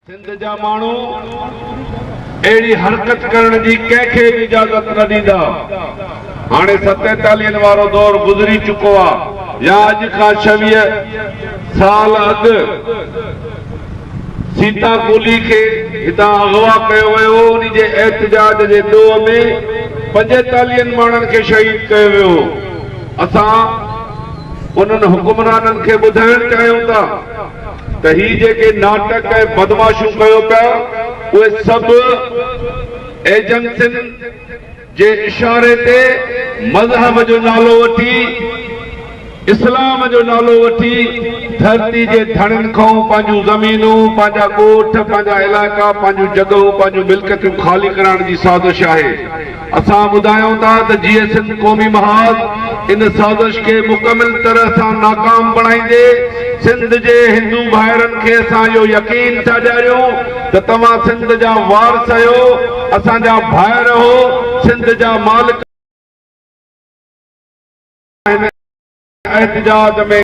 سنڌ جا ماڻهو اهڙي حرڪت ڪرڻ جي ڪنهن کي به اجازت نه ڏيندا. هاڻي ستيتاليهن وارو دور گذري چڪو آ يا اڄ کان ڇويهه سال اڳ سيتا ڪولهي کي هتان اغوا ڪيو ويو هو انهي جي احتجاج جي ڏوهه ۾ پنجيتاليهن ماڻهن کي شهيد ڪيو ويو هو. اسان انهن حڪمرانن کي ٻڌائڻ چاهيون ٿا. ته هي جيڪي ناٽڪ ۽ بدمعاشيون ڪيو پيا اهي سڀ ايجنسين جي اشاري تي مذهب جو نالو وٺي اسلام جو نالو وٺي ڌرتي جي ڌڻين کانئون پنهنجون زمينون پنهنجا ڳوٺ پنهنجا علائقا پنهنجون جڳهون پنهنجون ملڪيتون خالي ڪرائڻ جي سازش آهي اسان ٻڌايون ٿا ته جيئي سنڌ قومي محاذ ان سازش کي مڪمل طرح سان ناڪام بڻائيندي سنڌ جي هندو ڀائرن کي اسان اهو يقين ٿا ڏياريون ته توهان سنڌ جا وارث اهيو اسان جا ڀائر اهو سنڌ جا مالڪ آهن ۽ احتجاج ۾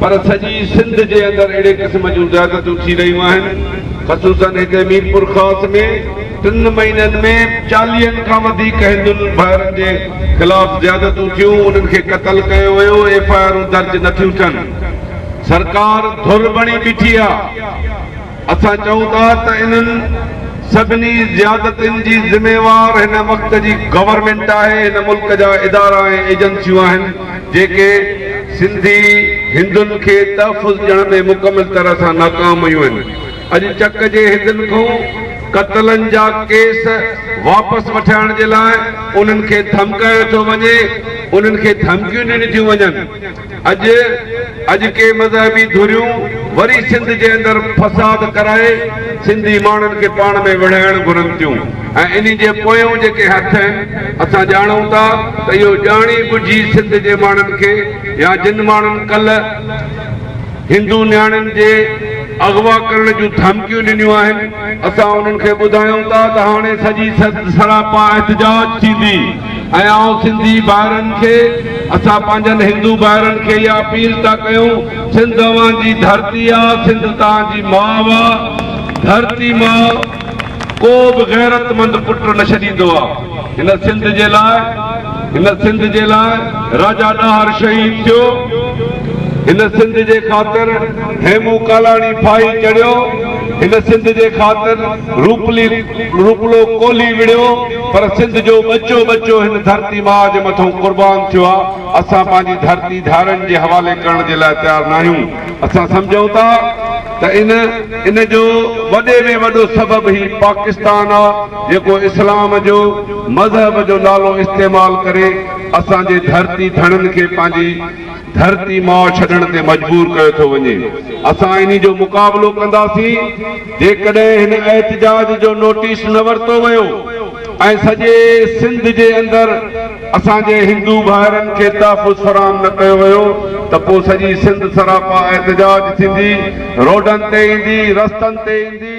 پر سڄي سنڌ جي اندر اهڙي قسم جون زيادتيون ٿي رهيون آهن خصوصا هتي ميرپورخاص ۾ ٽن مهينن ۾ چاليهن کان وڌيڪ هندن ڀائرن جي خلاف زيادتيون ٿيون انهن کي قتل ڪيو ويو ايف آء آرون درج نٿيون ٿين سرڪار ڌر بڻي بيٺي آهي. اسان چئون ٿا ته انهن سڀني زيادتين جي ذميوار هن وقت جي گورنمينٽ آهي، هن ملڪ جا ادارا ۽ ايجنسيون آهن جيڪي سنڌي هندن کي تحفظ ڏيڻ ۾ مڪمل طرح سان ناڪام ويون آهن، اڄ چڪ جي هندن کون قتلن جا ڪيس واپس وٺائڻ جي لاء انهن کي ڌمڪايو ٿو وڃي، انهن کي ڌمڪيون ڏنيون ٿيون وڃن. اڄ اڄڪي مذهبي ڌريون وري سنڌ جي اندر فساد ڪرائي سنڌي ماڻهن کي پاڻ ۾ وڙهائڻ گهرن ٿيون ۽ انهي جي پويون جيڪي هٿ آهن اسان ڄاڻون ٿا ته اهو ڄاڻي ٻجهي سنڌ جي ماڻهن کي يا جن ماڻهن ڪلهه هندو نياڻين جي اغوا ڪرڻ جون ڌمڪيون ڏنيون آهن اسان انهن کي ٻڌايون ٿا ته هاڻي سڄي سراپا احتجاج ٿيندي. ۽ آئون سنڌي ڀائرن کي اسان پنهنجن هندو ڀائرن کي اها اپيل ٿا ڪيون سنڌ اوهان جي ڌرتي آ سنڌ توهان جي ماء آ ڌرتي ماء ڪو به غيرت مند پٽ نه ڇڏيندو آ هن سنڌ جي لاء هن سنڌ جي لاء راجا ڏاهر شهيد ٿيو هن سنڌ جي خاطر هيمون ڪالاڻي ڦاهي چڙهيو هن سنڌ جي خاطر روپلي روپلو ڪولهي وڙهيو پر سنڌ جو ٻچو ٻچو هن ڌرتي ماء جي مٿئون قربان ٿيو آ، اسان پنهنجي ڌرتي ڌارين جي حوالي ڪرڻ جي لاء تيار ناهيون، اسان سمجهون ٿا ته ان ان جو وڏي ۾ وڏو سبب هي پاڪستان آ جيڪو اسلام جو مذهب جو نالو استعمال ڪري اسان جي ڌرتي ڌڻين کي پنهنجي ڌرتي ماء ڇڏڻ تي مجبور ڪيو ٿو وڃي، اسان انهي جو مقابلو ڪنداسين جيڪڏهن هن احتجاج جو نوٽيس نه ورتو ويو ۽ سڄي سنڌ جي اندر اسان جي هندو ڀائرن کي تحفظ فراهم نه ڪيو ويو ته پوء سڄي سنڌ سراپا احتجاج ٿيندي، روڊن تي ايندي، رستن تي ايندي.